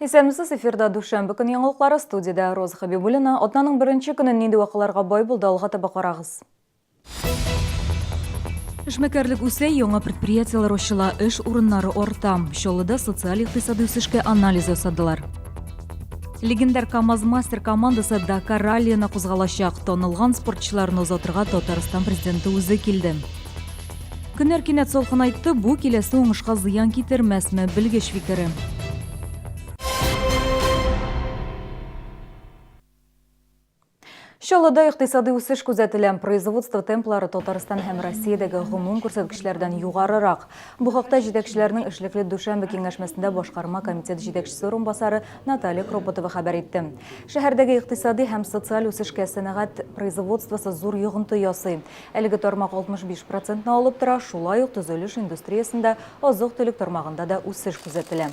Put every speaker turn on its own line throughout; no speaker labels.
Исәнмесез эфирда дүшәмбе көне яңалыклары студиядә Роза Хабибуллина. Атнаның беренче көнен нинди вакыйларга бай булды алга таба карагыз. Эшмәкәрлек үсә, яңа предприятиеләр ачыла, эш урыннары арта. Чаллыда социаль-икътисади үсешкә анализ ясадылар. Легендар КАМАЗ-мастер командасы Дакар раллиена кузгалачак. Танылган спортчыларны озатырга Татарстан президенты үзе килде. Көннәр кинәт салкынайтты, бу киләсе уңышка зыян китермәсме, белгеч фикере. Чаллыда икътисадый үсеш күзәтелә. Производство темплары Татарстан һәм Россиядәге гомум күрсәткечләрдән югарырак. Бу хакта җитәкчеләрнең эшлекле дүшәмбе киңәшмәсендә башкарма комитет җитәкчесе урынбасары Наталья Кропотова хәбәр итте. Шәһәрдәге икътисади һәм социаль үсешкә сәнәгать производствосы зур йогынты ясый. Әлеге тармак 65 процентны алып тора, шулай ук төзелеш индустриясендә, азык-төлек тармагында да үсеш күзәтелә.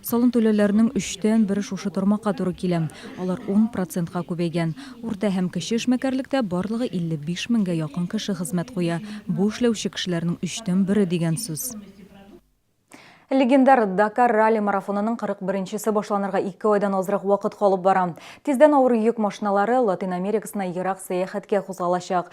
Салым түләүләренең өчтән бере шушы тармакка туры килә. Алар ун процентка күбәйгән. Урта һәм кече эшмәкәрлектә барлыгы 55 меңгә якын кеше хезмәт куя. Бу эшләүче кешеләрнең өчтән бере дигән сүз. Легендар Дакар ралли-марафонының 41 нчесе башланырга ике айдан азрак вакыт калып бара. Тиздән авыр йөк машиналары Латин Америкасына ерак сәяхәткә кузгалачак.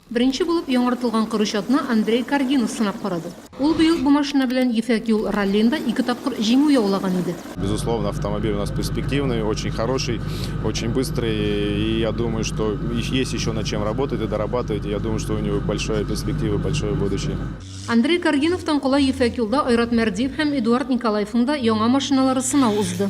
Беренче булып яңартылган Корычатны Андрей Каргинов сынап карады. Ул быел бу машина белән Ефәк юл раллиында ике тапкыр җиңү яулаган иде. Безусловно, автомобиль
у нас перспективный, очень хороший, очень быстрый и я думаю, что есть еще над чем работать и дорабатывать, и я думаю, что у него большая перспектива и большое будущее. Андрей
Каргиновтан кала Ефәк юлда Айрат Мәрдиев һәм Эдуард Николаевның да яңа машиналары сынау узды.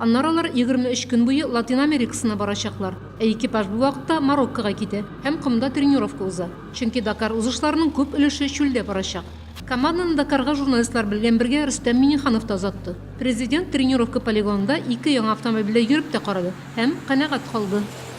Аннары алар егерме өч көн буе Латин Америкасына барачаклар, ә экипаж бу вакытта Мароккога китә һәм комда тренировка уза, чөнки Дакар узышларының күп өлеше чүлдә барачак. Команданы Дакарга журналистлар белгән бергә Рөстәм Миңнеханов та озатты. Президент тренировка полигонында ике яңа автомобильдә йөреп тә карады һәм канәгать калды.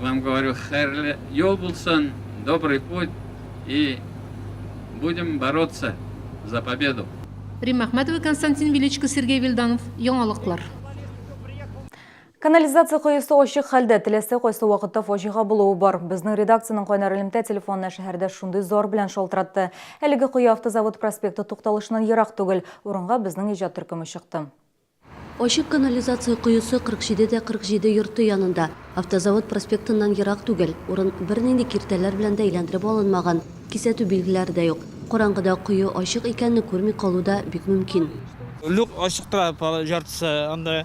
вам говорю хәерле юл булсын добрый путь и будем бороться за победу. Римма Әхмәтова,
Константин Величко, Сергей Вильданов, Яңалыклар.
Канализация коесы ачык хәлдә, теләсә кайсы вакытта фаҗига булуы бар. Безнең редакциянең кайнар элемтә телефонына шәһәрдә шундый зар белән шалтыратты. Әлеге кое Автозавод проспекты тукталышыннан ерак түгел. Урынга безнең иҗат төркеме чыкты. Ачык
канализация коесы 47 дә 47 йорты янында, Автозавод проспектыннан ерак түгел. Урын бернинди киртәләр белән дә әйләндереп алынмаган, кисәтү билгеләре дә юк. Караңгыда кое ачык икәнне күрми калу да бик мөмкин. Люк ачык
тора, яртысы анда.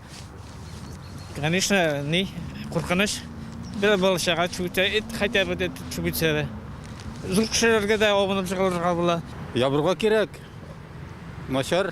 Конечно, ни, куркыныч. Берәр бала-чага төшеп китсә, эт, хотя бы эт төшеп китсә дә. Зур кешеләргә дә абынып җыгылырга була. Ябырга кирәк.
Начар.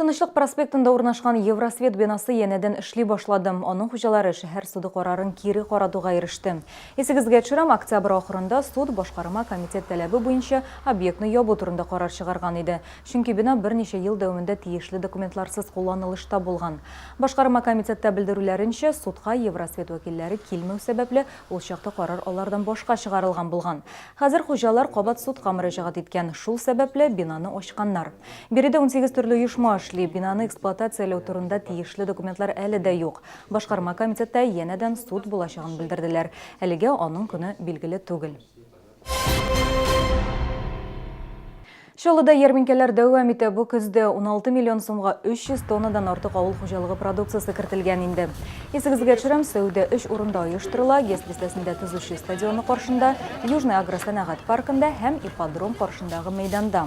Тынычлык проспектында урнашкан Евросвет бинасы янәдән эшли башлады. Аның хуҗалары шәһәр суды карарын кире каратуга иреште. Исегезгә төшерәм, октябрь ахырында суд башкарма комитет таләбе буенча объектны ябу турында карар чыгарган иде. Чөнки бина берничә ел дәвамында тиешле документларсыз кулланылышта булган. Башкарма комитетта белдерүләренчә, судка Евросвет вәкилләре килмәү сәбәпле, ул чакта карар алардан башка чыгарылган булган. Хәзер хуҗалар кабат судка мөрәҗәгать иткән, шул сәбәпле, бинаны ачканнар. Биредә унсигез төрле оешма эшли, бинаны эксплуатацияләү турында тиешле документлар әле дә юк. Башкарма комитетта янәдән суд булачагын белдерделәр. Әлегә аның көне билгеле түгел. Чаллыда ярминкәләр дәвам итә. Бу көздә 16 миллион сумга 300 тоннадан артык авыл хуҗалыгы продукциясе кертелгән инде. Исегезгә төшерәм, сәүдә өч урында оештырыла, ГЭС бистәсендә төзүче стадионы каршында, Южный агросәнәгать паркында һәм ипподром каршындагы мәйданда.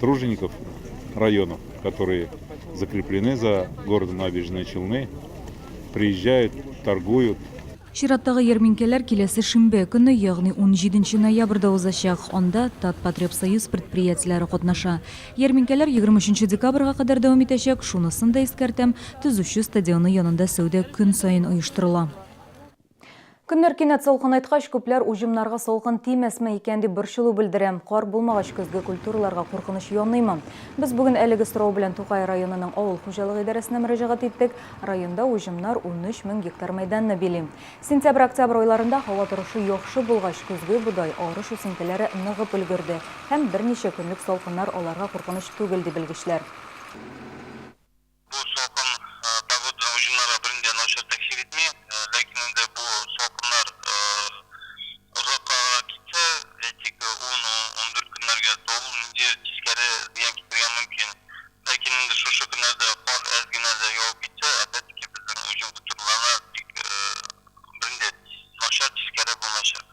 тружеников районов, которые закреплены за городом Набережные Челны, приезжают, торгуют. Чираттагы
ярминкәләр киләсе шимбә көне, ягъни 17 ноябрьдә узачак. Анда Татпотребсоюз предприятиеләре катнаша. Ярминкәләр 23 декабрьга кадәр дәвам итәчәк. Шунысын да искәртәм, төзүче стадионы янында сәүдә көн саен оештырыла. Көннәр кинәт салкынайткач, күпләр уҗымнарга салкын тимәсме икән дип борчылу белдерә. Кар булмагач, көзге культураларга куркыныч яныймы? Без бүген әлеге сорау белән Тукай районының авыл хуҗалык идарәсенә мөрәҗәгать иттек. Районда уҗымнар 13 мең гектар мәйданны били. Сентябрь-октябрь айларында һава торышы яхшы булгач, көзге бодай, арыш үсентеләре ныгып өлгерде һәм берничә көнлек салкыннар аларга куркыныч түгел, ди белгечләр. Бу салкын погоданың уҗымнарга берни дә начар тәэсир итми. Ләкин инде бу салкыннар озаккаграк китсә, әйтик, ун-ундүрт көннәргә, то ул нинди тискәре зыян китергә мөмкин. Ләкин инде шушы көннәрдә кар әз генә дә явып китсә, опять-таки безнең уҗым культураларына бик берни дә начар тискәре булмаячак.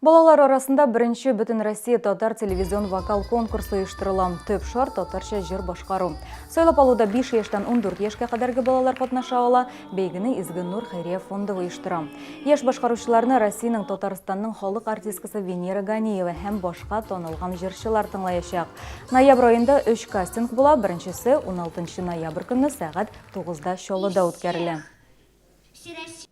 Балалар арасында беренче Бөтенроссия татар телевизион вокал конкурсы оештырыла. Төп шарт татарча җыр башкару. Сайлап алуда 5 яшьтән 14 яшькә кадәрге балалар катнаша ала. Бәйгене Изге Нур хәйрия фонды оештыра. Яшь башкаручыларны Россиянең Татарстанның халык артисткасы Венера Ганиева һәм башка танылган җырчылар тыңлаячак. Ноябрь аенда 3 кастинг була, беренчесе 16 ноябрь көнне сәгать 9да Чаллыда үткәрелә.